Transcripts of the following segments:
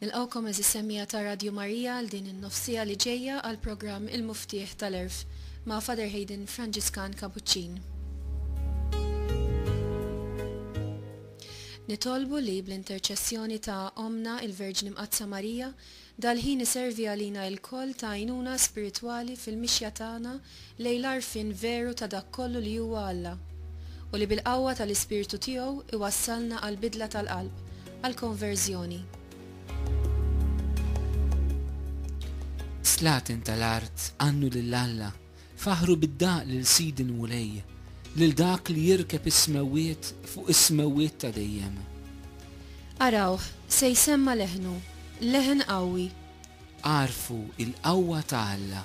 Nilqgħukom għeżież semmiegħa ta' Radju Marija għal din in-nofsiegħa li ġejja għall-programm Il-Muftieħ tal-Għerf ma' Father Hayden Franġiskan Kapuċċin. Nitolbu li bl-interċessjoni ta' Ommna il-Verġni Mqaddsa Marija, dal-ħin iservi għalina ilkoll ta' għajnuna spiritwali fil-mixja tagħna lejn l-għarfien veru ta' dak kollu li huwa Alla, u li bil-qawwa tal-Ispirtu tiegħu jwassalna għall-bidla tal-qalb, għall-konverżjoni. Slaten tal-art, għannu lil Alla, faħħru bid-daqq lil Sidi l-Mulej, lil dak li jirkeb is-smewwiet fuq is-smewwiet ta' dejjem. Arawh, se jsemma' leħnu, leħen qawwi. Agħrfu l-qawwa ta' Alla.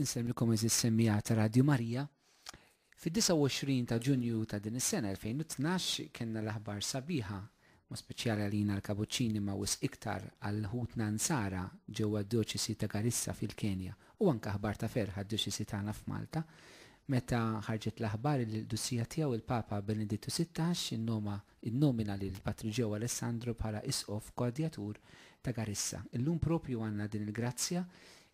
Insellmilkom għeżież semmiegħa ta' Radju Marija. Fid-29 ta' Ġunju ta' din is-sena 2012 kellna l-aħbar sabiħa, mod speċjali għalina l-Kabuċċini imma wisq iktar għal ħutna Nsara ġewwa d-Djoċesi ta' Garissa fil-Kenja u anke aħbar ta' ferħ għad-Djoċesi tagħna f'Malta meta ħarġet l-aħbar illi l-Qdusija Tiegħu il-Papa Benedittu Sittax innoma innomina lil Patriġew Alessandro bħala Isqof Koordjatur ta' Garissa. Illum proprju għandna din il-grazzja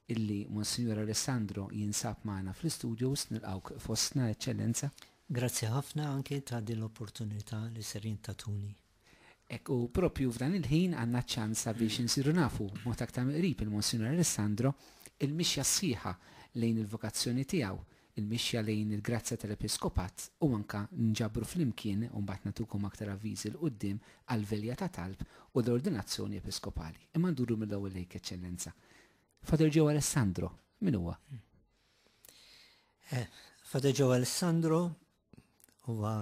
illi Monsinjur Alessandro jinsab magħna fl-istudios. Nilqgħuk fostna, Eċċellenza. Grazzi ħafna anki ta' din l-opportunità li ser jintatuni. Hekk, u proprju f'dan il-ħin għandna ċ-ċans sabiex insiru nafu b'mod aktar miqrib il-Monsinjur Alessandro, il-mixja sħiħa lejn il-vokazzjoni tiegħu, il-mixja lejn il-grazzja tal-episkopat u anke nġabru flimkien, u mbagħad nagħtukom aktar avviżi 'l quddiem, għall-velja ta' talb u l-ordinazzjoni episkopali. Imma nduru mill-ewwel lejk, Eċċellenza. Father Joe Alessandro, min huwa? Father Joe Alessandro huwa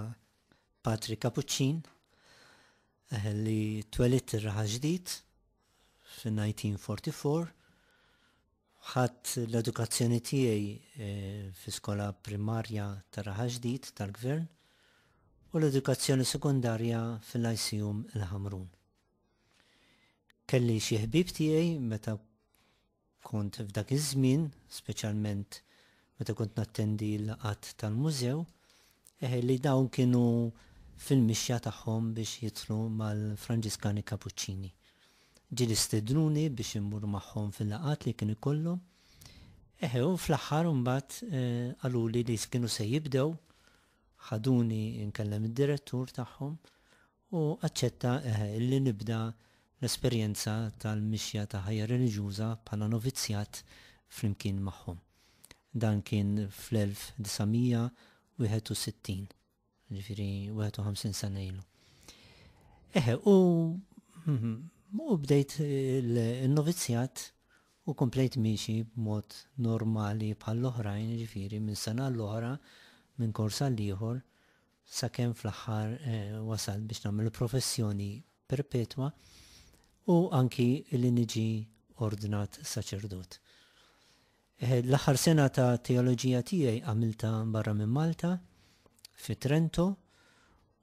patri kapuċċin eh, li twelit ir-raħa ġdid fin-1944 ħadd l-edukazzjoni tiegħi eh, fi skola primarja ta' raħa ġdid tal-gvern u l-edukazzjoni sekundarja fil-ICUM il-Ħamrun. Kelli xi ħbib tiegħi meta Kont f'dak iż-żmien, speċjalment meta kont nattendi l-laqgħat tal-mużew, eħe li dawn kienu fil-mixja tagħhom biex jidħlu mal-Franġiskani Kapuċċini. Ġieli stednuni biex immur magħhom fil-laqgħat li kienu jkollhom, eħe u fl-aħħar imbagħad qaluli li kienu se jibdew, ħaduni nkellem id-direttur tagħhom u aċċetta li nibda l-esperjenza tal-mixja ta' ħajja reliġjuża bħala novizzjat flimkien magħhom. Dan kien fl-1961, jiġifieri 51 sena ilu. Eħe, u u bdejt il-novizzjat u komplejt miexi b'mod normali bħall-oħrajn, ġifiri, minn sena l-oħra, minn korsa l-ieħor, sakemm fl-aħħar wasalt biex nagħmel professjoni perpetwa u anki li niġi ordnat saċerdot. L-aħħar sena ta' teoloġija tiegħi għamilta barra minn Malta, fi Trento,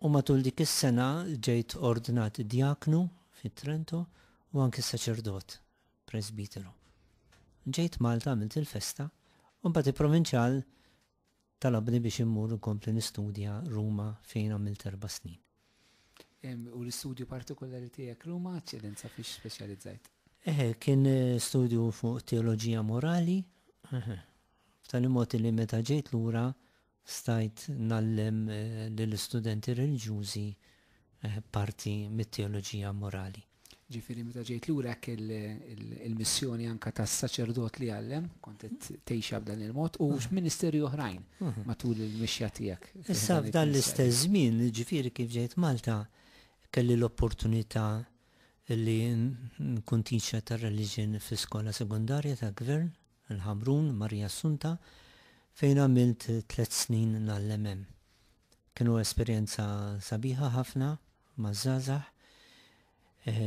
u matul dik is-sena ġejt ordnat djaknu fi Trento u anki saċerdot, presbiteru. Ġejt Malta għamilt il-festa, u mbagħad il-provinċjal Talabni biex immur inkompli nistudja Ruma fejn għamilt erba' snin. U l-istudju partikolari tiegħek Ruma, eċċellenza fiex speċjalizzajt? Eħe, kien studju fuq teoloġija morali, b'tali mod li meta ġejt lura stajt nallem lill-istudenti reliġjużi parti mit-teoloġija morali. Ġifieri meta ġejt lura hekk il-missjoni anke tas-saċerdot li għallem, kont qed tgħixha b'dan il-mod u x'ministeri oħrajn matul il-mixja tiegħek. Issa f'dan l-istess żmien, ġifieri kif ġejt Malta, kelli l-opportunità li nkun teacher ta' religion fi skola sekundarja ta' gvern, il-Ħamrun, Marija Assunta, fejn għamilt tliet snin ngħallem hemm. Kienu esperjenza sabiħa ħafna, maż-żgħażagħ.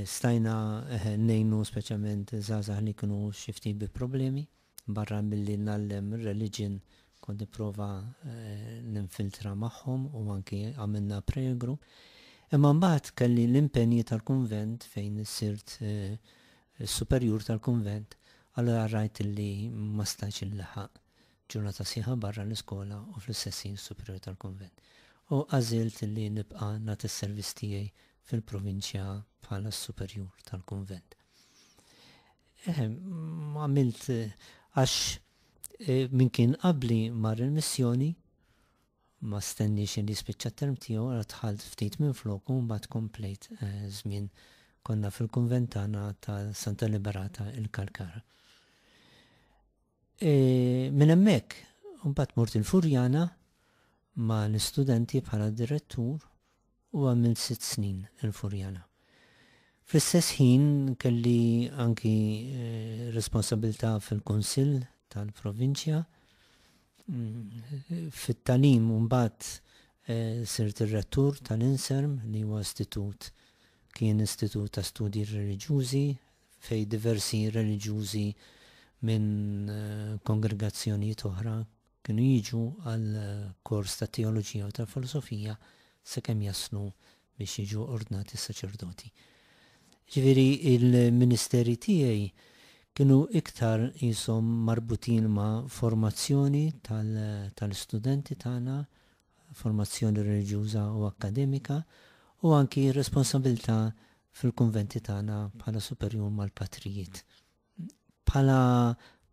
Stajna ngħinu speċjalment żgħażagħ li kienu xi ftit bi problemi. Barra milli ngħallem reliġjon kont nipprova ninfiltra magħhom u anki għamilna prayer group. Imma mbagħad kelli l-impenji tal-kunvent fejn sirt is-superjur tal-kunvent, allura rajt li ma stajtx inlaħaq. ġurnata sħiħa barra l-iskola u fl-Istessin Superjur tal-Kunvent, u għażilt li nibqa' nagħti s-servizz tiegħi fil-provinċja bħala s-Superjur tal-Kunvent. Għamilt għax e, min kien qabli mar il-missjoni ma stenniex li spiċċa term tiegħu għal tħalt ftit minn floku mbagħad komplejt eh, żmien konna fil-kunventana ta' Santa Liberata il-Kalkara. E, minn hemmhekk, imbagħad mort il-Furjana ma' l-istudenti bħala direttur u għamilt sitt snin il-Furjana. Fl-istess ħin kelli anki e, responsabilità fil-Kunsill tal-Provinċja fit-talim mbagħad eh, sirt ir-rettur tal-Inserm li huwa istitut kien istitut ta' studji reliġjużi fejn diversi reliġjużi minn kongregazzjonijiet oħra kienu jiġu għal kors ta' teoloġija u tal-filosofija sakemm jaslu biex jiġu ordnati saċerdoti. Ġifieri l-ministeri tiegħi kienu iktar qishom marbutin ma' formazzjoni tal-istudenti tagħna, formazzjoni reliġjuża u akkademika, u anki r-responsabbiltà fil-kunventi tagħna bħala superjur mal-patrijiet. Bħala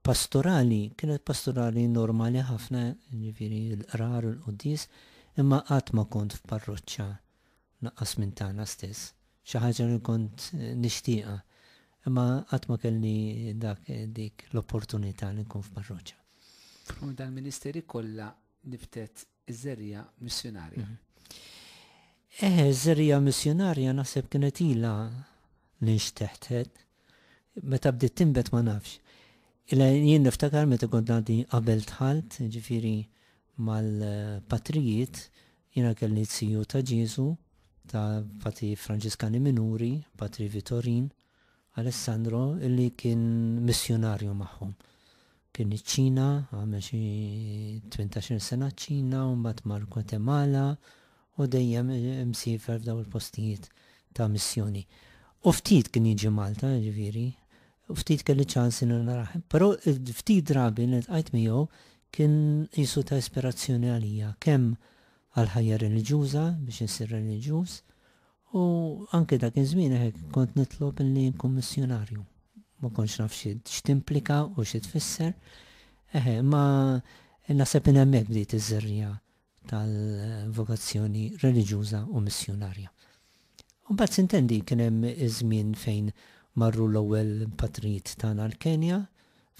pastorali, kienet pastorali normali ħafna, ġifieri l-qrar u l-qudies, imma qatt ma kont f'parroċċa naqqas minn tagħna stess. Xi ħaġa li kont nixtieqha, imma qatt ma kelli dak dik l-opportunità li nkun f'parroċċa. U dal-ministeri kollha nibtet Iż-żerrija missjunarja. Mhm. Eh, iż-żerrija missjunarja naħseb kienet ilha li nxteħtet. Meta bdiet timbet ma nafx. Ila jien niftakar meta kont għaddi qabel tħalt, ġifiri mal-patrijiet, jiena kelli t-siju ta' Ġesu, ta' pati Franġiskani Minuri, patri Vitorin, Alessandro li kien missjunarju magħhom. Kien iċ-Ċina, għamel xi tmintax-il sena ċ-Ċina u mbagħad mar Gwatemala u dejjem imsiefer f'dawn il-postijiet ta' missjoni. U ftit kien jiġi Malta, jiġifieri, u ftit kelli ċans li narah. Però ftit drabi li ltqajt miegħu kien qisu ta' ispirazzjoni għalija, kemm għall-ħajja reliġjuża biex insir reliġjuż, U anke dak iż-żmien hekk kont nitlob li nkun missjunarju. Ma kontx naf x'timplika u xi tfisser. Eħe, imma naħseb minn hemmhekk bdiet iż-żerriegħa tal-vokazzjoni reliġjuża u missjunarja. U mbagħad sintendi kien hemm iż-żmien fejn marru l-ewwel patrijiet tagħna l-Kenja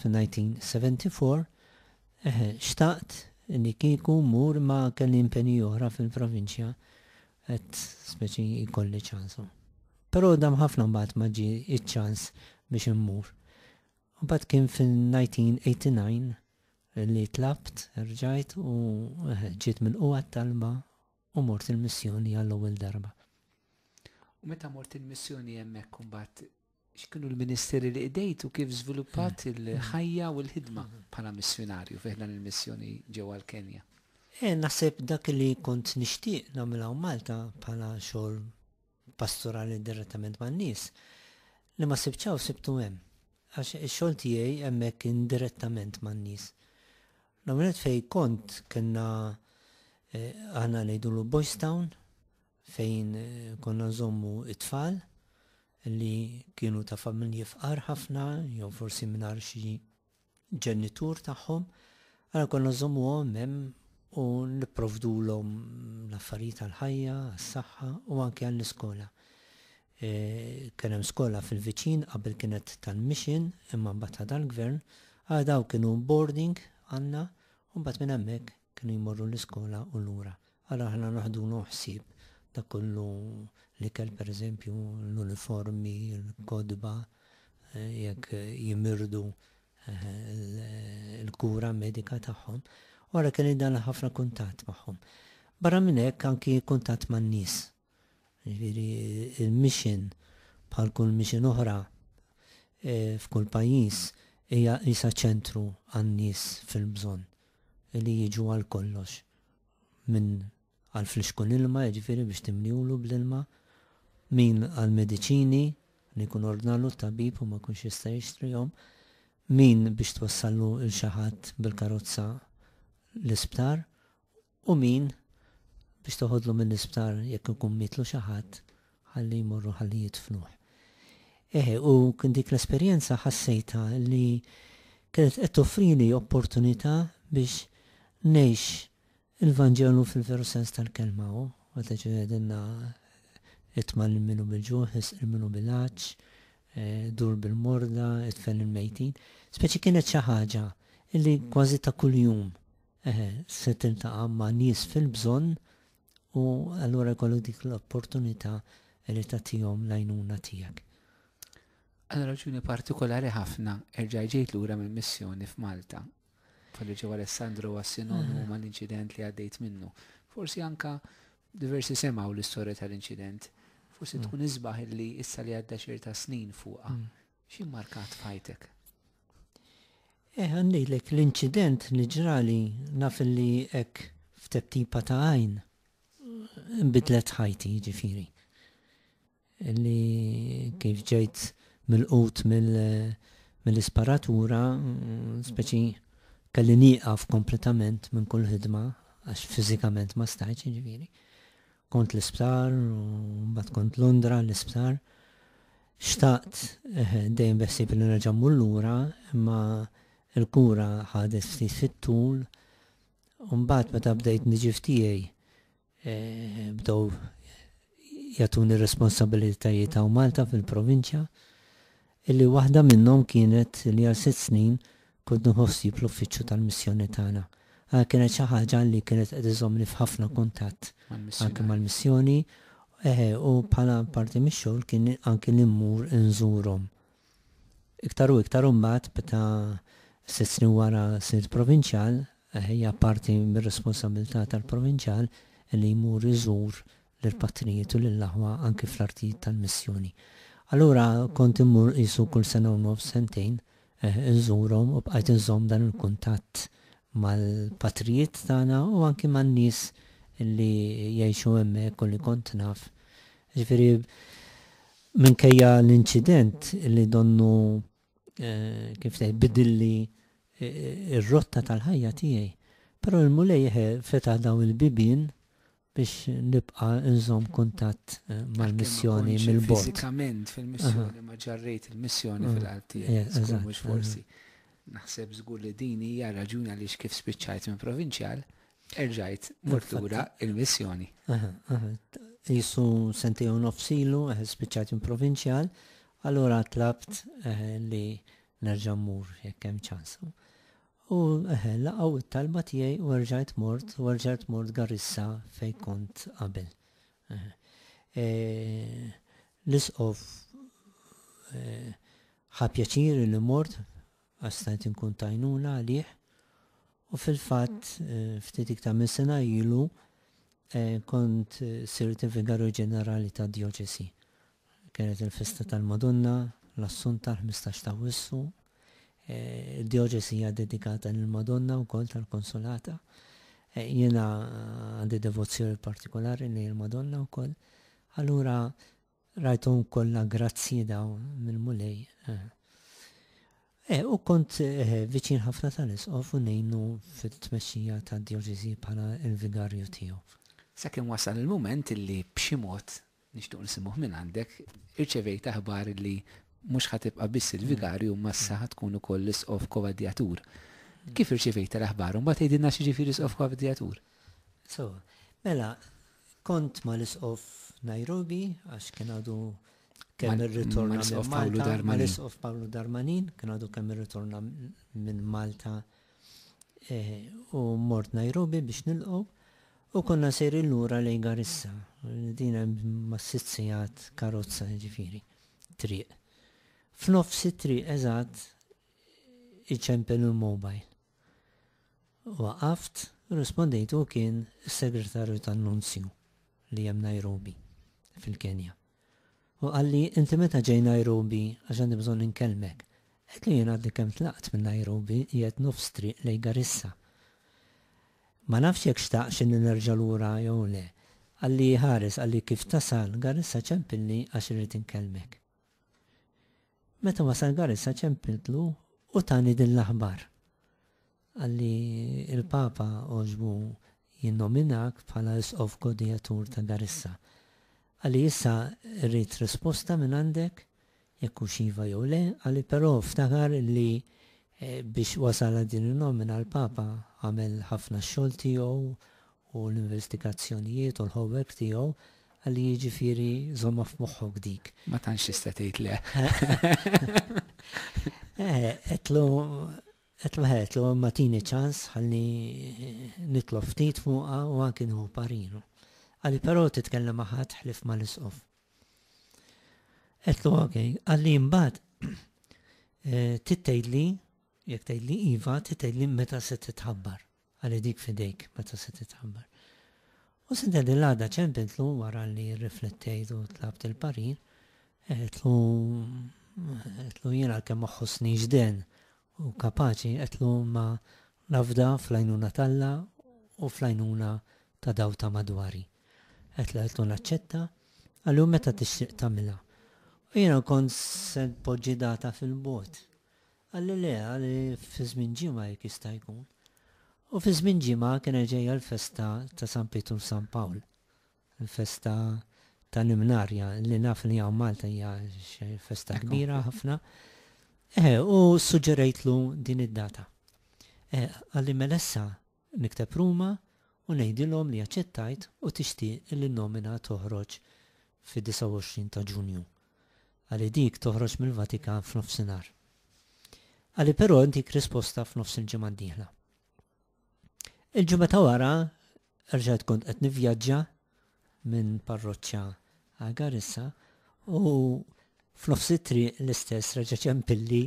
fin-1974. Eħe, xtaqt li kieku mmur imma kelli impenji oħra fil-provinċja Qed speċi jkolli ċans u. Però dam ħafna mbagħad ma ġie iċ-ċans biex immur. Mbagħad kien fil-1989 li tlabt, erġajt u ġiet milqugħa t-talba u mort il-missjoni għall-ewwel darba. U meta mort il-missjoni hemmhekk imbagħad X'kienu l-ministeri li qdejt u kif żviluppat il-ħajja u l-ħidma bħala missjunarju fi ħdan il-missjoni ġewwa l-Kenja? Naħseb dak li kont nixtieq nagħmel hawn Malta bħala xogħol pastorali direttament man-nies, li ma sibtx hawn sibtu hemm. Għax ix-xogħol tiegħi hemmhekk kien direttament man-nies. L-ewwel nett fejn kont kellna aħna ngħidulu Boys Town, fejn konna nżommu t-tfal li kienu ta' familji fqar ħafna, jew forsi mingħajr xi ġenitur tagħhom, għara konna nżommu għom hemm u nipprovdulhom l-affarijiet għall-ħajja, għas-saħħa u anke għall-iskola. E, kien hemm skola fil-viċin qabel kienet tal-mission imma mbagħad dal-gvern, għal daw kienu boarding għandna u mbagħad minn hemmhekk Kienu jmorru l-iskola u lura. Ara aħna naħdulu ħsieb dak kollu, l-ikel pereżempju, l-uniformi, l-kotba, jekk jimirdu l-kura medika tagħhom. U ara kelli dan l-ħafna kuntatt magħhom. Barra minn hekk anki kuntatt man-nies. Jiġifieri il-mission bħal kull mission oħra f'kull pajjiż hija qisha ċentru għan-nies fil-bżonn li jiġu għal kollox min għal flixkun ilma jiġifieri biex timlielu bl-ilma, min għal mediċini li jkun ordnalu t-tabib u ma jkunx jista' jixtrihom, min biex twassallu 'l xi ħadd bil-karozza l-isptar u min biex toħodlu mill-isptar jekk ikun mietlu xi ħadd ħalli jmorru ħalli jidfnuh. Eħe, u kien dik l-esperjenza ħassejtha li kienet qed toffrili opportunità biex ngħix il-Vanġelu fil-veru sens tal-kelma u meta ġie għedinna itma' lil minu bil-ġuħ, isqil minu bil-għatx, eh, dur bil-morda, itfel il-mejtin. Speċi kienet xi ħaġa li kważi ta' kuljum se tiltaqa' ma' nies fil-bżonn u allura jkollok dik l-opportunità li tagħtihom l-għajnuna tiegħek. Għal raġuni partikolari ħafna erġajt ġejt lura minn missjoni f'Malta. F'Għalli Ġewwa Alessandro huwa sinonimu mal-inċident li għaddejt minnu. Forsi anke diversi semgħu l-istorja tal-inċident. Forsi tkun isbaħ li issa li għadda xierta snin fuqha, Xi markat f'ħajtek? Eh, għandilek l-inċident li ġrali naf li hekk f'teptipa ta' għajn bidlet ħajti ġifiri. Li kif ġejt mill-qut mill-isparatura, speċi kelli nieqaf kompletament minn kull ħidma għax fiżikament ma stajċ ġifiri. Kont l-isptar, u mbagħad kont Londra l-isptar. Xtaqt, dejjem beħsieb li nerġa' mmur lura, imma l-kura ħadet ftit fit-tul u mbagħad meta bdejt niġi f'tiegħi bdew jagħtuni r-responsabilitajiet hawn Malta fil-provinċja, illi waħda minnhom kienet li għal sitt snin Kont nieħu ħsieb l-uffiċċju tal-missjoni tagħna għal kienet xi ħaġa li kienet qed iżommni f'ħafna kuntatt anki mal-missjoni u bħala parti mix-xogħol kien anki li mmur inżurhom. Iktar u iktar imbagħad meta sitt snin wara sirt provinċjal, hija parti mir-responsabbiltà tal-provinċjal li jmur iżur lill-patrijiet u lill-aħwa anki fl-artijiet tal-missjoni. Allura kont immur qisu kull sena u nofs, sentejn, inżurhom u bqajt inżomm dan il-kuntatt mal-patrijiet tagħna u anki man-nies li jgħixu hemmhekk u li kont naf. Jiġifieri minkejja l-inċident li donnu kif tgħid bidilli r-rotta tal-ħajja tiegħi, però l-Mulej fetaħ dawn il-bibien biex nibqa' nżomm kuntatt mal-missjoni mill-bogħod. Għalkemm ma kontx fiżikament fil-missjoni, imma ġarrejt il-missjoni fil-qalb tiegħi. Żgur mhux forsi. Naħseb żgur li din hija r-raġuni għaliex kif spiċċajt minn provinċjal, erġajt mort lura l-missjoni. Qisu sentejn u nofs ilu spiċċajt minn provinċjal, allura tlabt li nerġa' mmur jekk hemm ċans. U eħe, laqgħu t-talba tiegħi u erġajt mort, u erġajt mort Garissa fejn kont qabel. L-Isqof ħa pjaċir li mort għax stajt inkun tajnuna għalih u fil-fatt ftit iktar minn sena ilu kont sirt il-Vigarju Ġenerali tad-Djoċesi Kienet il-festa tal-Madonna, l-Assunta, l-ħmistax t'Awwissu. Id-djoċesi hija ddedikata lill-Madonna wkoll tal-Konsolata. Jiena għandi devozzjoni partikolari lejn il-Madonna wkoll. Allura rajthom kollha grazzji daw mill-Mulej. U kont viċin ħafna tal-Isqof u ngħinu fit-tmexxija tad-djoċesi bħala l-vigarju tiegħu. Sakemm wasal il-mument li b'xi mod Nixtiequ nsimgħuh mingħandek. Irċevejt aħbar li mhux ħa tibqa' biss il-vigarju imma issa ħa tkun ukoll l-isqof koadjatur. Kif irċevejtha l-aħbar u mbagħad għidilna x'jiġifieri isqof koadjatur? So, mela, kont mal-isqof f'Nairobi għax kien għadu kemm irritorna minn Malta. Mal-isqof Pawlu Darmanin kien għadu kemm irritorna minn Malta u mort Nairobi biex nilqgħu u konna sejrin lura lejn Garissa. Din hemm ma' sitt sigħat karozza jiġifieri triq. F'nofs it-triq eżatt iċempel il-mobile. Waqaft, rrispondejtu u kien is-Segretarju tan-Nunzju li hemm Nairobi fil-Kenja. U qalli, Inti meta ġej Nairobi, għax għandi bżonn inkellmek. Għedtlu jien għadni kemm tlaqt minn Nairobi, qiegħed nofs triq lejn Garissa. Ma nafx jekk xtaqx inni nerġa' lura jew le. Qalli, Ħares, qalli, kif tasal Garissa ċempilni għax irrid inkellmek. Meta wasal Garissa ċempiltlu u tani din l-aħbar. Qal li l-Papa għoġbu jinnominak bħala Isqof Godijatur ta' Garissa. Qal li issa rrid risposta mingħandek jekk hux iva jew le, qal li però ftakar li biex wasal għal din in-nomina l-Papa għamel ħafna x-xogħol tiegħu u l-investigazzjonijiet u l-homework tiegħu, qal li jiġifieri żommha f'moħħok dik. Ma tantx tista' tgħid le. Għedtlu Qed ngħidlu imma tini ċans ħalli nitlob ftit fuqha u anki nieħu pariru. Qali però titkellem ma' ħadd ħlief mal-Isqof. Qedlu ok, qali imbagħad trid tgħidli jekk tgħidli iva, trid tgħidli meta se titħabbar. Ħalli dik f'idejk meta se titħabbar. U Sidda dil-għada ċempiltlu wara li rriflettejt u tlabt il-parir, għetlu għetlu jien għalkemm ma ħossnix den u kapaċi għetlu ma nafda fl-għajnuna talla u fl-għajnuna ta' daw ta' madwari. Għetlu għetlu naċċetta għallu meta tixtieq tagħmilha. U jiena kont se poġġi data fil-bot. Għal-Lilea li fi żmien ġimgħa jekk jista' jkun. U fi żmien ġimgħa kienet ġejja l-festa ta' San Pietru u San Pawl, il-festa tal-Imnarja, li naf li hawn Malta hija xi festa kbira ħafna. Eħe, u ssuġġerejtlu din id-data. Eħe, qalli mela issa Nikteb Ruma u ngħidilhom li aċċettajt u tixtieq li n-nomina toħroġ fid-29 ta' Ġunju. Qali dik toħroġ mill-Vatikan f'nofsinhar. Qali però intik risposta f'nofs il-ġimgħa d-dieħla. Il-ġimgħa ta' wara rġajt kont qed nivvjaġġa minn parroċċa għal Garissa u f'nofs it-triq l-istess reġa' ċempilli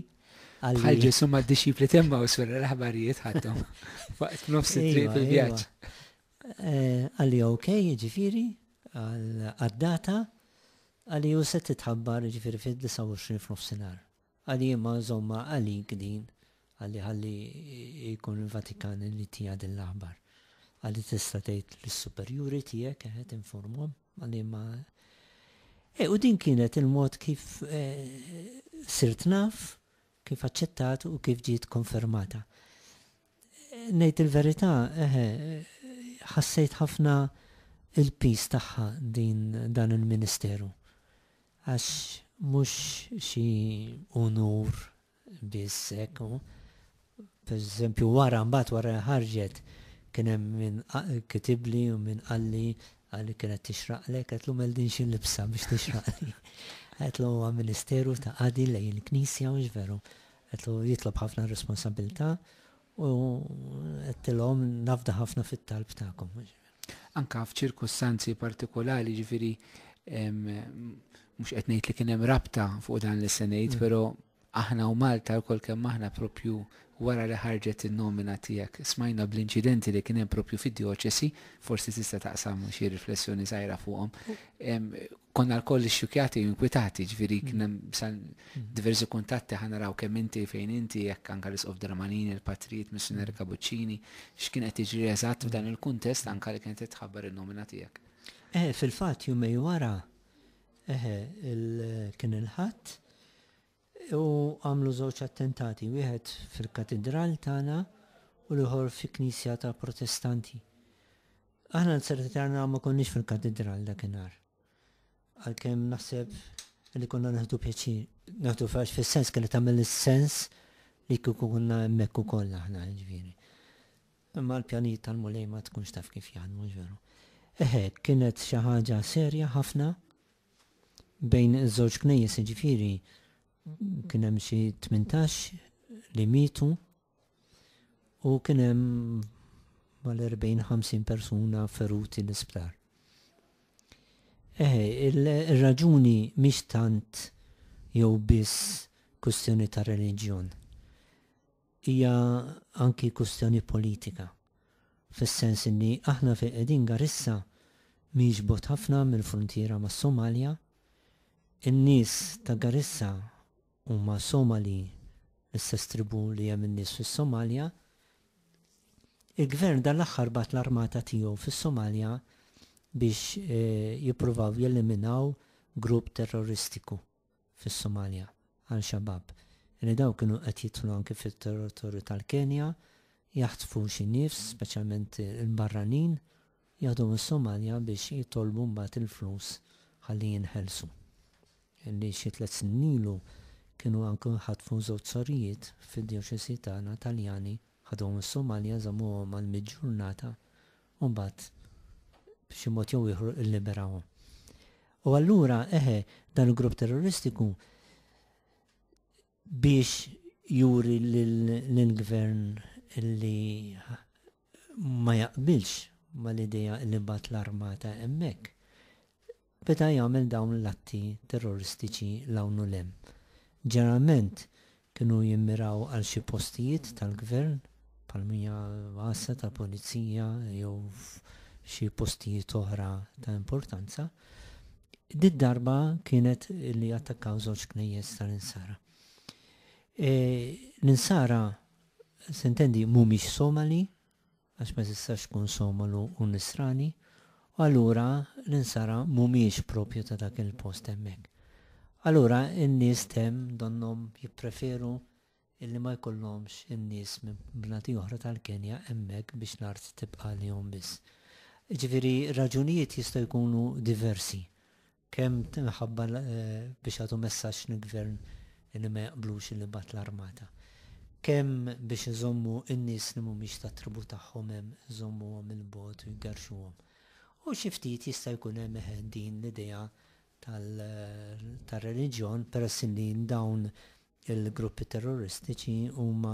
għal. Bħal Ġesu ma' dixxipli temma u sura l-aħbarijiet ħadhom waqt f'nofs it-triq iva, fil-vjaġġ. Iva. Eh, għalli ok, ġifiri, għad-data, għalli u se titħabbar ġifiri fid-29 f'nofsinar. Għali imma nżommha għalik din, għali ħalli jkun il-Vatikan li tiha din l-aħbar. Għali tista' tgħid lis-superjuri tiegħek, eħe tinformhom, għali imma E, u din kienet il-mod kif e, sirt naf, kif aċċettat u kif ġiet konfermata. Ngħid il-verità, eħe, ħassejt ħafna il-piż tagħha din dan il-ministeru. Għax mhux xi unur biss hekk. Pereżempju wara mbagħad wara ħarġet kien hemm min kitibli u min qalli għalli kienet tixraqlek, għetlu mel din xi libsa biex tixraqli. Għetlu huwa ministeru ta' qadi lej il-knisja mhux veru. Għedtlu jitlob ħafna responsabilità u għedtilhom nafda ħafna fit-talb tagħkom. Anka f'ċirkustanzi partikolari ġifiri mhux qed ngħid li kien hemm rabta fuq dan li se ngħid, mm. però aħna u Malta l-kol kemm aħna propju wara li ħarġet il-nomina tijak. Smajna bl-incidenti li kienem propju fid-dioċesi, forsi tista taqsam xie riflessjoni zaħira fuqom. konna l-koll xxukjati u inkwitati, ġviri mm. kienem san mm. diversi kuntatti ħana raw kemm inti fejn inti jekk anka l-isqof Dramanini, il-patrijiet missionari mm. Kabuċċini, x'kien qed jiġri eżatt f'dan il-kuntest anka li kienet titħabbar in-nomina tiegħek. Eh, fil-fatt jumej wara eh, kien il-ħadd u għamlu żewġ attentati, wieħed fil-katidral tagħna u l-ieħor fi knisja ta' protestanti. Aħna l-segretarna ma konniex fil-katidral dakinhar. Għalkemm naħseb li konna naħdu pjaċir. Naħdu fax fis-sens kelli tagħmel is-sens li kieku kunna hemmhekk ukoll aħna ġifieri. Imma l-pjanijiet tal-mulej ma tkunx taf kif jaħdmu ġveru. Eħe, kienet xi ħaġa serja ħafna Bejn iż-żewġ knejjes, jiġifieri, kien hemm xi tmintax li mietu u kien hemm mal-40-50 persuna feruti l-isptar. Eħe, ir-raġuni mhix tant jew biss kwistjoni ta' reliġjon. Hija anki kwistjoni politika, fis-sens li aħna fejn qegħdin Garissa mhix bogħod ħafna mill-fruntiera mas-Somalja. In-nies ta' Garissa huma Somali, l-istess tribù li hemm in-nies fis-Somalja. Il-Gvern dan l-aħħar bagħat l-armata tiegħu fis-Somalja biex jippruvaw jeliminaw grupp terroristiku. fis-Somalja, Al Shabaab, li dawn kienu qed jidħlu anki fit-territorju tal-Kenja, jaħtfu xi nifs, speċjalment il-barranin, jaħduhom is-Somalja biex jitolbu mbagħad il-flus ħalli jinħelsu. Li xi tliet snin ilu kienu anki ħatfu żewġ sorijiet fid-djoċesi tagħna Taljani, ħaduhom is-Somalja, żammuhom għal mitt ġurnata u mbagħad b'xi mod jew ieħor illiberahom. U allura eħe dan il-grupp terroristiku biex juri l-gvern li ma jaqbilx ma l-ideja li bat l-armata emmek. beda jagħmel dawn l-atti terroristiċi 'l hawn u 'l hemm. Ġeneralment kienu jimmiraw għal xi postijiet tal-gvern, bħal mija għassa tal-pulizija jew f'xi postijiet oħra ta' importanza. Did-darba kienet li jattakkaw żewġ knejjes tal-Insara. E, L-Insara, sintendi, mhumiex Somali, għax ma tistax tkun somal u nisrani, u allura l-insara mhumiex proprju ta' dak il-post hemmhekk. Allura n-nies t'hemm donnhom jippreferu illi ma jkollhomx in-nies minn bnadi oħra tal-Kenja hemmhekk biex l-art tibqa' għalihom biss. Jiġifieri r-raġunijiet jistgħu jkunu diversi. Kemm minħabba biex jagħtu messaġġ lill-gvern li ma jaqblux li jibgħat l-armata. Kemm biex iżommu n-nies li mhumiex tat-tribù tagħhom hemm, iżommuhom 'il bogħod u jgerrxuhom. U xi ftit jista' jkun hemm eħe din l-idea tar-reliġjon peress li dawn Il-gruppi terroristiċi huma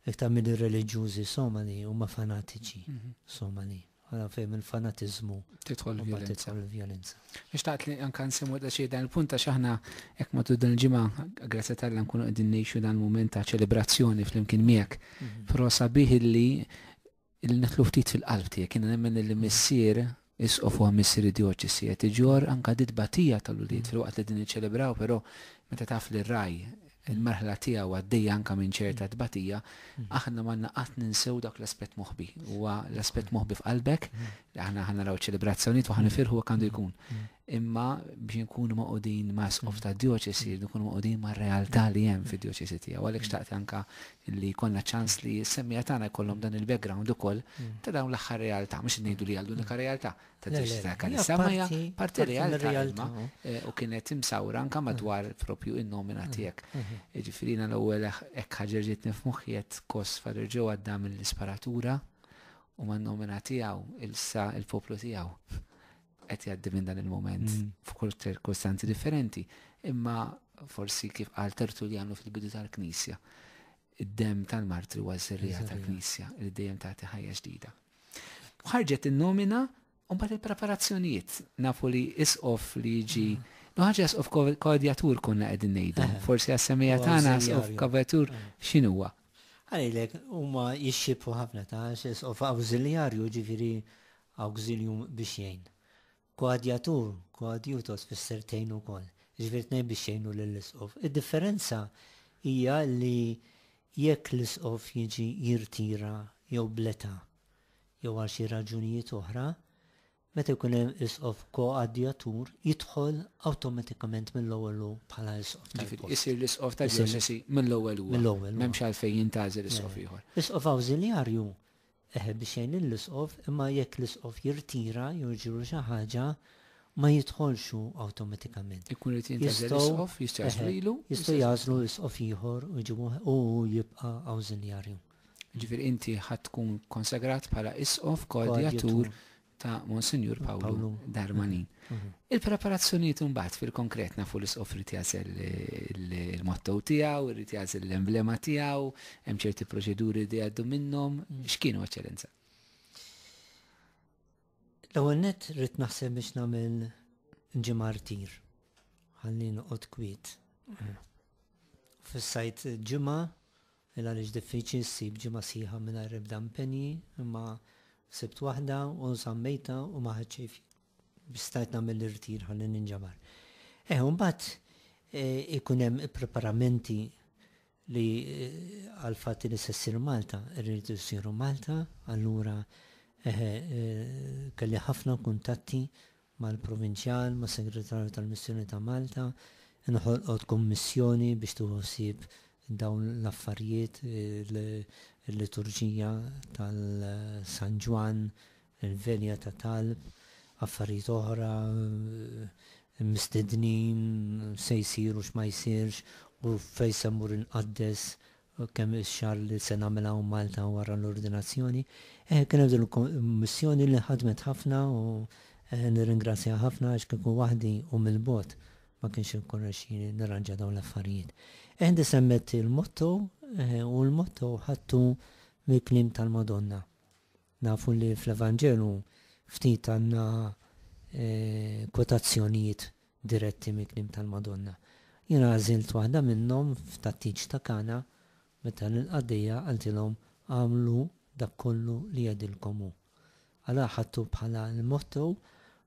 iktar milli reliġjużi Somali, huma fanatiċi Somali. Ara fejn mill-fanatiżmu tidħol il-vjolenza. Nixtaqt li anke nsemmu daqsxejn dan il-punt għax aħna hekk matul dan il-ġimgħa grazzja tal-Alla nkunu qegħdin ngħixu dan il-mument ta' ċelebrazzjoni flimkien miegħek. Però sabiħ li Illi nidħlu ftit fil-qalb tiegħek. Jiena nemmen li missier, isqof u missier id-djoċesi qed iġorr anke di tbatija tal-ulied filwaqt li din niċċelebraw però meta taf li r-ragħaj, il-merħla tiegħu għaddejja anke minn ċerta tbatija, aħna m'għandna qatt ninsew dak l-aspett moħbi. Huwa l-aspett moħbi f'qalbek li aħna ħa naraw iċ-ċelebrazzjonijiet u ħa nifirħu hekk għandu jkun. imma biex nkunu maqudin ma' sqof ta' dioċesi, nkunu maqudin ma' realtà li hemm fi dioċesi tiegħu. Għalhekk xtaqt anka li konna ċans li s-semmija tagħna jkollhom dan il-background ukoll ta' dawn l-aħħar realtà, mhux ngħidu li għal unika realtà ta' dioċesi ta' Kanissa, ma hija parti realtà imma eh, u kienet imsawra anka madwar propju in-nomina tiegħek. Ġifieri l-ewwel hekk ħaġerġiet nifmuħjiet kos fadr ġew għadda mill-isparatura u man-nomina tiegħu il-sa il-poplu tiegħu. qed jgħaddi minn dan il-moment mm. f'kull ċirkostanzi differenti, imma forsi kif qal Tertuljanu fil-bidu tal-Knisja, id-dem tal-martri huwa żerrija tal-Knisja li dejjem tagħti ħajja ġdida. Ħarġet in-nomina u mbagħad il-preparazzjonijiet nafu li isqof li jiġi mm. No ħaġa isqof kodjatur konna qegħdin ngħidu. Eh. Forsi għas-semija tagħna isqof kodjatur eh. x'inhuwa? Għalilek huma jixxibħu ħafna ta' isqof awżiljarju ġifieri Awxilium biex jgħin. Koadjatur, koadjutor tfisser tgħin ukoll, jiġifieri tnejn biex jgħinu lill-isqof. Id-differenza hija li jekk l-isqof jiġi jirtira jew bl-età jew għal xi raġunijiet oħra, meta jkun hemm isqof koadjatur jidħol awtomatikament mill-ewwel hu bħala isqof tal-post. Jiġifieri isir l-isqof tad-djoċesi mill-ewwel huwa. Mill-ewwel huwa. M'hemmx għalfejn jintgħażel isqof ieħor. Isqof awżiljarju Eħe, biex jgħin lill-isqof, imma jekk l-isqof jirtira jew jiġrilu xi ħaġa, ma jidħolx hu awtomatikament. Ikun irid jintgħażel isqof, jistgħażlu lilu? Eħe, jistgħu jagħżlu isqof ieħor u jġibu u hu jibqa' awżiljarju. Jiġifieri inti ħadd tkun konsagrat bħala isqof koordjatur ta' Monsinjur Pawlu Darmanin. Mhm. Il-preparazzjonijiet imbagħad fil-konkret nafu li sqof irid jażel il-motto tiegħu, irid jażel l-emblema tiegħu, hemm ċerti proċeduri li għaddu minnhom, mhm. x'kienu eċċellenza? L-ewwel net rrid naħseb biex nagħmel ġimartir. Ħalli noqgħod kwiet. Mhm. Fis-sajt ġimgħa Mela għaliex diffiċli ssib ġimgħa sħiħa mingħajr ebda impenji, imma sibt waħda u żammejtha u ma ħadt xejn fija biex stajt nagħmel l-irtir ħalli ninġabar. Eħe, u mbagħad ikun hemm ippreparamenti li għall-fatt li se ssir Malta, irridu jsiru Malta, allura eħe kelli ħafna kuntatti mal-Provinċjal, mas-Segretarju tal-Missjoni ta' Malta, inħolqot kummissjoni biex tieħu ħsieb dawn l-affarijiet, il-liturġija tal-San Ġwann, il-velja ta' talb, affarijiet oħra, mistednin, x'se jsir u x'ma jsirx u fejn se mmur inqaddes kemm ix-xagħar li se nagħmel hawn Malta wara l-ordinazzjoni. Kienet din il-kummissjoni li ħadmet ħafna u nirringrazzjaha ħafna għax kieku waħdi u mill-bogħod ma kienx irnexxieli nirranġa dawn l-affarijiet. Inti semmejt il-motto u l-motto ħadtu mill-kliem tal-Madonna. Nafu li fl-Evanġelu ftit għandna kwotazzjonijiet diretti mill-kliem tal-Madonna. Jien għażilt waħda minnhom f'tat-tieġ ta' Kana meta lill-qaddejja qaltilhom agħmlu dak kollu li jgħidilkom hu. Għala ħadtu bħala l-motto?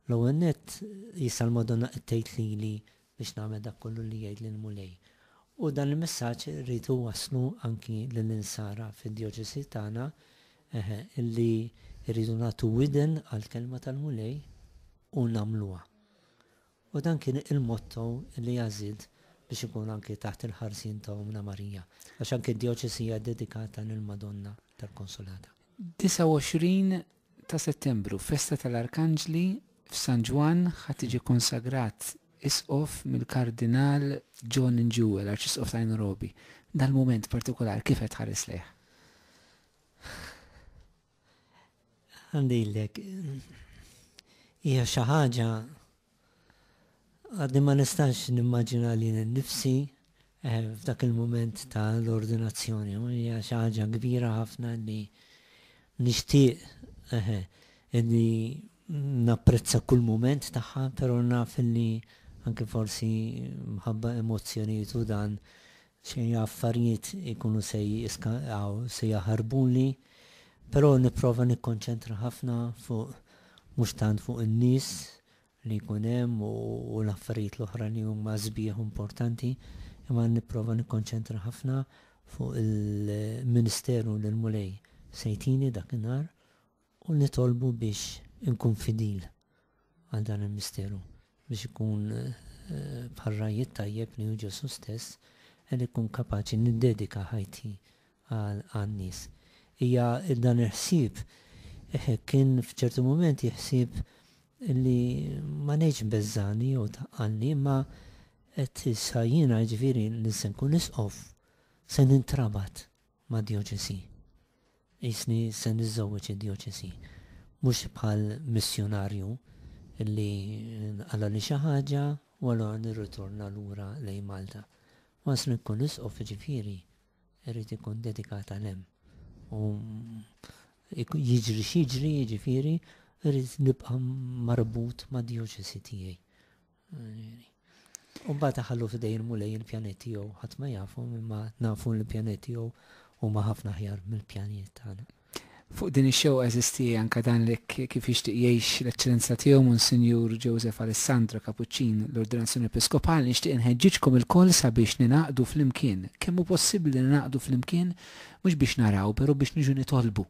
L-ewwel nett, issa l-Madonna qed tgħid lili biex nagħmel dak kollu li jgħidli l-Mulej. U dan il-messaġġ irrid inwasslu anki lill-insara fid-djoċesi tagħna, eħe, li rridu nagħtu widen għall-kelma tal-Mulej u nagħmluha. U dan kien il-motto li għażilt biex ikun anki taħt il-ħarsien ta' Ommna Marija, għax anki d-djoċesi hija dedikata lill-Madonna tal-Konsolata. 29 ta' Settembru, festa tal-Arkanġli f'San Ġwann ħa tiġi konsagrat Isqof mill-Kardinal John Njue, l-Arċisqof ta' Nairobi. Dal-mument partikolari kif qed tħares lejh? Għandilek, hija xi ħaġa Għadni ma nistax nimmaġina lili nnifsi f'dak il-mument ta' l-ordinazzjoni. Hija xi ħaġa kbira ħafna li nixtieq li napprezza kull mument tagħha, però naf li anke forsi mħabba emozzjonijiet u dan Xi affarijiet ikunu se jiskandaw, se jaħarbuli, però nipprova nikkonċentra ħafna fuq mhux tant fuq in-nies li jkun hemm u l-affarijiet l-oħra li huma sbieħ u importanti, imma nipprova nikkonċentra ħafna fuq il-ministeru li l-Mulej se jtini dak in-nhar. u nitolbu biex inkun fidil għal dan il-misteru, biex ikun bħar-ragħaj it-tajjeb li hu Ġesù stess, qed inkun kapaċi niddedika ħajti għan-nies. Hija dan il-ħsieb kien f'ċertu mumenti ħsieb li ma ngħidx beżżagħni jew tqaqqalni, imma qed issa jiena, jiġifieri li se nkun Isqof, se nintrabat mad-djoċesi. Qisni se niżżewweġ id-djoċesi. Mhux bħal missjunarju li nqalagħli xi ħaġa u allura nirritorna lura lejn Malta. Once li nkun isqof jiġifieri rrid inkun dedikat għal hemm. U jiġri x'jiġri jiġifieri rrid nibqa' marbut mad-djoċesi tiegħi. U mbagħad taħallu f'idejn mulej il-pjanet tiegħu ħadd ma jafu imma nafu l-pjanet tiegħu huma ħafna ħjar mill-pjanijiet tagħna. Fuq din ix-xew eżisti anke dan li kif jixtieq jgħix l-Eċċellenza tiegħu Monsinjur Joseph Alessandro Kapuċċin l-Ordinazzjoni Episkopali nixtieq inħeġġiġkom ilkoll sabiex ninaqdu flimkien. Kemm hu possibbli ninaqdu flimkien mhux biex naraw, però biex niġu nitolbu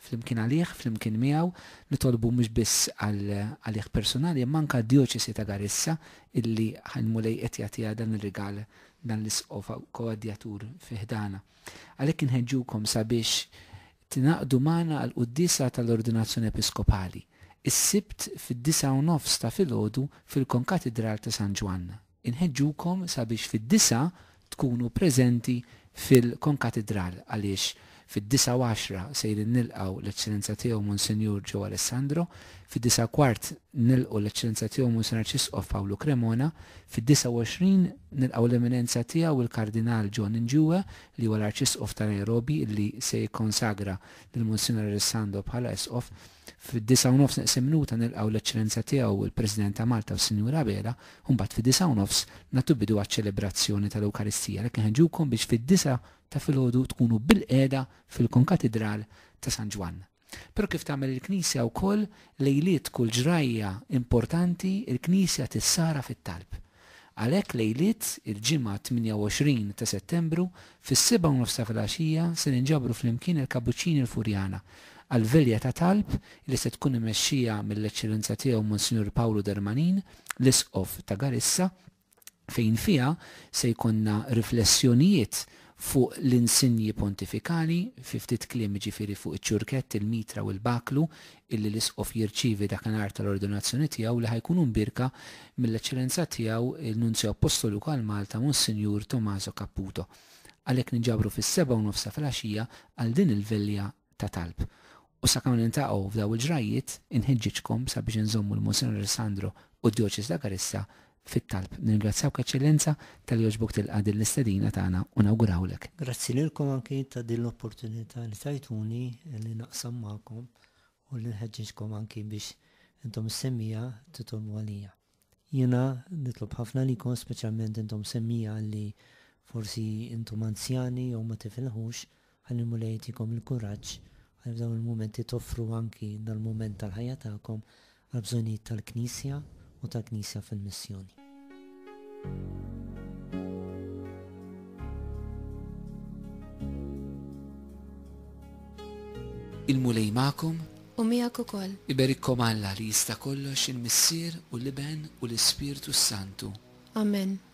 Flimkien għalih, flimkien miegħu, nitolbu mhux biss għal għalih persunali imma anke għad-Djoċesi ta' Garissa illi l-Mulej qed jagħtiha dan ir-rigal dan l-Isqof Koadjatur fi ħdanha. Għalhekk inħeġġukom sabiex tingħaqdu magħna għall-quddiesa tal-Ordinazzjoni Episkopali, is-Sibt fid-disgħa u nofs ta' filgħodu fil-Konkatidral ta' San Ġwann. Inħeġġukom sabiex fid-disgħa tkunu preżenti fil-Konkatidral għaliex fid-disgħa u għaxra sejrin nilqgħu l-Eċċellenza Tiegħu Monsinjur Joe Alessandro, fid-disgħa u kwart nilqu l-Eċċellenza Tiegħu Monsinjur Arċisqof Pawlu Cremona, fid-disgħa u għoxrin nilqgħu l-Eminenza Tiegħu il-Kardinal John Njue li huwa l-Arċisqof ta' Nairobi li se jikkonsagra lil Monsinjur Alessandro bħala Isqof. Fid-disgħa u nofs neqsin minuta nilqgħu l-Eċċellenza Tiegħu il-President ta' Malta u s-Sinjura Abela u mbagħad fid-disgħa u nofs nagħtu bidu għaċ-ċelebrazzjoni tal-Ewkaristija għalhekk inħeġġukom biex fid-disgħa ta' filgħodu tkunu bilqiegħda fil-Konkatidral ta' San Ġwann. Però kif tagħmel il-Knisja wkoll lejliet kull ġrajja importanti l-Knisja tissara fit-talb. Għalhekk lejliet il-Ġimgħa 28 ta' Settembru fis-sebgħa u nofs ta' filgħaxija se ninġabru flimkien il-Kabuċċini l-Furjana għal velja ta' talb li se tkun imexxija mill-Eċċellenza Tiegħu Monsinjur Pawlu Darmanin, l-Isqof ta' Garissa, fejn fiha se jkollna riflessjonijiet fuq l-insinji pontifikali, fi ftit kliem jiġifieri fuq iċ-ċurkett, il-mitra u l-baklu, illi l-Isqof jirċievi dakinhar tal-Ordinazzjoni tiegħu li ħa jkunu mbierka mill-Eċċellenza Tiegħu l-Nunzju Appostoliku għal Malta Monsinjur Tommaso Caputo. Għalhekk ninġabru fis-sebgħa u nofsha filgħaxija għal din il-velja ta' talb. U sakemm niltaqgħu f'daw il-ġrajjiet, inħeġġiġkom sabiex inżommu lil Monsinjur Alessandro u d-Djoċesi ta' Karissa fit-talb. Nirringrazzjawk, Eċċellenza, talli għoġbok tilqa' din l-istedina tagħna u nawgurawlek. Grazzi lilkom anki ta' din l-opportunità li tajtuni li naqsam magħkom u li nħeġġeġkom anki biex intom is-semmija titolbu għalija. Jiena nitlob ħafna għalikom, speċjalment intom semmija li forsi intom anzjani jew ma tifilħux, Ħalli l-Mulej jtikom il-kuraġġ ħalli f'dawn il-mumenti toffru anki dal-mument tal-ħajja tagħkom għall-bżonnijiet tal-Knisja u tal-Knisja fil-missjoni. Il-Mulej magħkom. U miegħek ukoll. Iberikkom Alla li jista' kollox il-Missier u l-Iben u l-Ispirtu s-Santu. Amen.